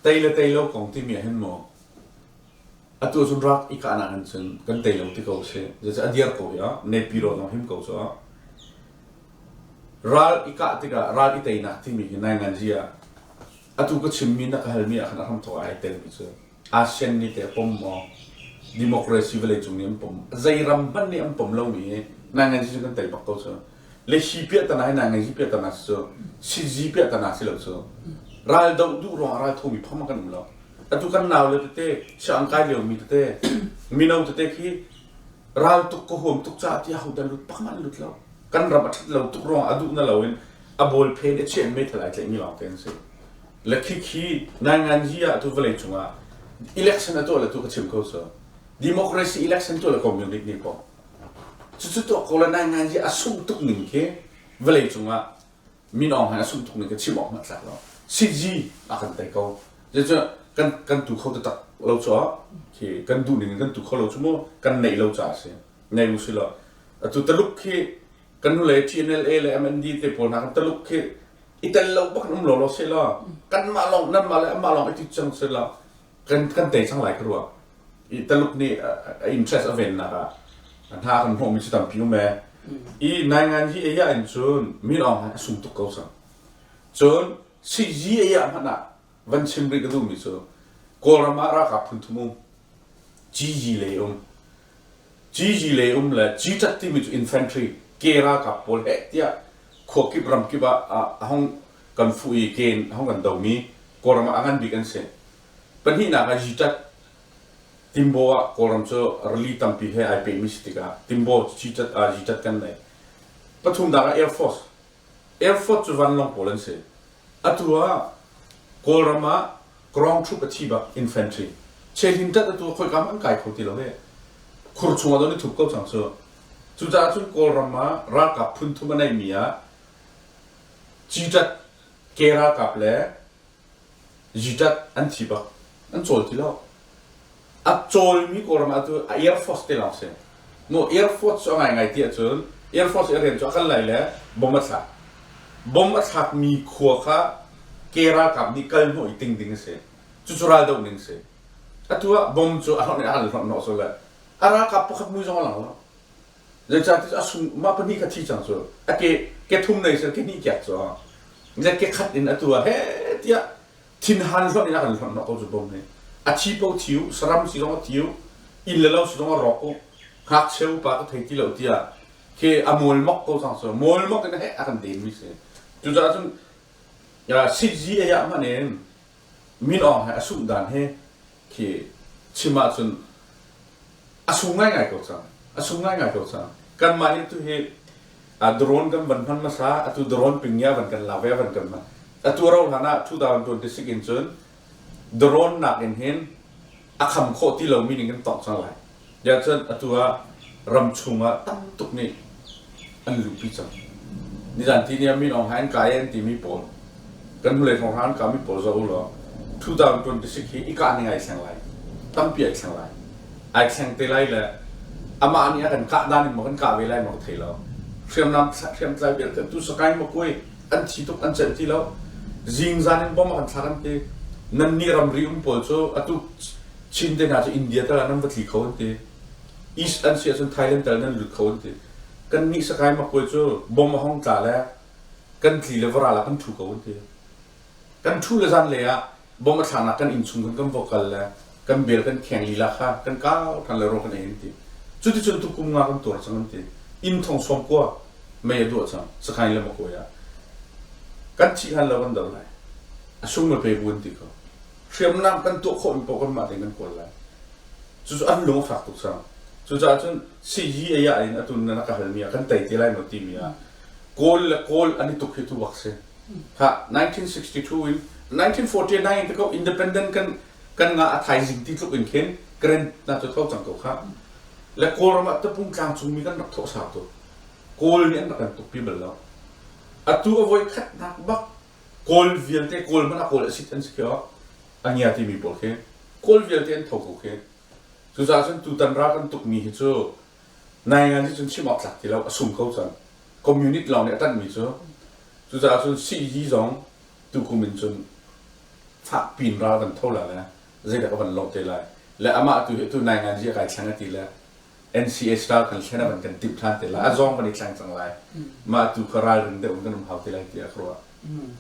Tei le tei lo kong timi ah hin maw, atu ah cun rak i kahnak in cun kan tei lo ti ko a si. Zeicah a dir ko hi ah, nepi rawh na him ko cuah. Ral i kah tikah ral i teinak timi hi nainganzi ah atu ka chimmi na ka halmi ah khan a hram thawk ai telmi cu. ASEAN nih teh a pom maw? Democracy vawlei cung nih an pom. Zei ram hmanh nih an pom lomi hi nai ngan cu kan tei bak ko cu. Le si piahtana hi nai ngan si piahtana si cu, si zi piahtana si lo cu. Ral doh duh ruangah ral thomi pham kan um lo. Atu kan nau le tete, siang an kai liomi tete, mino tete khi ral tuk ka huam tuk caah ti ahodan lut pak man lut lo. Kan ram a ṭhat lo tuk ruangah a duh na lo in a bawl phen i chian me thalai tlaihmi lawng te an si. Le khik hi nainganzi ah tu vawlei cungah election a tuah le tu ka chim ko cu. Democracy election tuah le community nih ko. Cucu tuah ko le nainganzi a sung tuk ning khi vawlei cungah min ong han a sung tuk ning ka chim awk mat tlak lo. CG a kan tei ko. Zecu kan kan tu kho taktak lo cu ah khi kan duh ning in kan tu kho lo cu mu kan neih lo ca a si. Nei mu si lo. Atu taluk khi kan hnulei TNLA le MND te pawl hna kan Taluk khi i tel lo bak um lawlaw se law kanmah lawng nanmah le anmah lawng i tit cang se law kan kan tei cang lai ka rua i Taluk nih a interest a vennak ah hna kan hmuhmi cu tampi um e i naingan hi eia in cun min awng a sung tuk ko sang cun si ji eia hmanh ah van chim rih ka duhmi cu Kawlram ah ralkap phunthum um GG lei um GG lei um le GTAT timi cu infantry ke ralkap pawl heh tiah khua kip ram kip ah a hong kan fuh i ke in a hong kan domi Kawlram ah a ngan bik an si pahnihnak ah GTAT Timbo ah Kawlram cu rili tampi he ai pehmi si tikah Timbo GTAT ah GTAT kan lei pathumnak ah Air Force Effort cu vanlawng pawl an si. Atu ah Kawlram ah Krawng Thup a thi bak, infantry. Chehlintat atu ah khoikam an kai kho ti lo i khur chung ah don i thup ko cang cu. Cucaah cun Kawlram ah ralkap phun thum a neihmi ah Citat, Ke ralkap le Ziṭat an thi bak, an cawl ti lo. A cawlmi Kawlram ah cu a Air Force te lawng si. Maw Air Force cu a ngaingai ti ahcun Air Force i a rian cu a kan lai le bomb a thlak. Bomb a thlakmi khua kha ke ralkap nih kalhnawh i ting ding a si. Cucu raldoh ning a si. Atu ah bomb cu a hlawnh in a hal hlawnh hnawh sual le a ralkap pakhat mui zong a lang lo. Zeicahtiah a sum mah pahnih kha thi cang cu a ke ke thum nei sel ke hnih kiak cu le ke khat in a tu ah he tiah thinhan hlonh in a kan hlonh hnawh ko cu bom nih a thi po thi u saram si zong a thi u inn le lo si zong a rawk u ngakchia upa tu thei ti lo tiah ke a mual mok ko cang cu mual mok in he a kan den mi si cucaah cun sihzi ei ah hman in min awng he a sungh dan hi khi chim ahcun a sung ngaingai ko cang a sung ngaingai ko cang kanmah hi tu hi a drone kan van hman hmasa atu drone pingia van kan la ve van kan hman atu ro hlan ah 2026 in cun drone nak in hin a kham khawh ti lo mi ning kan tong cang lai. Ziah cun atu ah ram chung ah tam tuk nih an luhpi cang. Nizan ti ni ah Min Aung Hlaing kai an timi pawl kan hnulei thawng hran kami pawl zoh u law 2026 hi i kah ning ai thleng lai tampi ai thleng lai ai thleng te lai le amah nih a kan kah dan in maw kan kah ve lai maw ka thei lo hriamnam hriamtlai vialte tu sakain ma kuai an thi tuk an celh ti lo zingzan in bomb an thlak an ti nannih ramri um pawl cu atu Chin te hna cu India tal ah nan va tli kho an ti East an si ahcun Thailand tal nan lut kho an ti kan nih sakai makkuai cu bomb a hong tla le kan tli le va ral ah kan thu ko an ti kan thu le zan lei ah bawm a thlaknak kan innchungkhar kan vocal le kan bel kan kheng lila kha kan kau than le ro kan ei an ti cuticun tu kum nga kan tuar cang an ti inn thong som kua mei a duah cang sakhain le makoy ah kan thi han lo kan dal lai a sung me pe buan ti ko hriamnam kan tuah khawh in po kan mah kan kual lai cu an lung a fak tuk sang cucaah cun CG aya in atun na ka halmi ah kan tai te lai no ti mi ah kawl le kawl ani tuk hi tu bak si kha 1962 in 1949 in te ko independent kan kan nga a thaizing ti tluk in khin Grand na tu tho cang ko kha le kawlram ah tapung tlang chung mi kan rak thawh sau tu kawl nih an rak kan tukpi bal lo atu a voi khat nak bak kawl vialte kawl man a kawl a sit an si kho ania ti mi pawl khi kawl vialte an tho ko khi cucaah cun tutan ra kan tuk mi hi cu Nai ngan nih cun chim awk tlak ti lo, a sum ko cun. Community lawng nih a tanhmi cu, cucaah cun sii zong tukum in cun fak piin ral kan tho lai le zeidah ka van lawh te lai. Le amah tu hi tu nai ngan zi a kai thleng a ti le NCS ral kan thlen a van kan timh than te lai. A zong van i thleng cang lai. Mah tu kha ralring deuh in kan um hau te lai tiah ka ruah.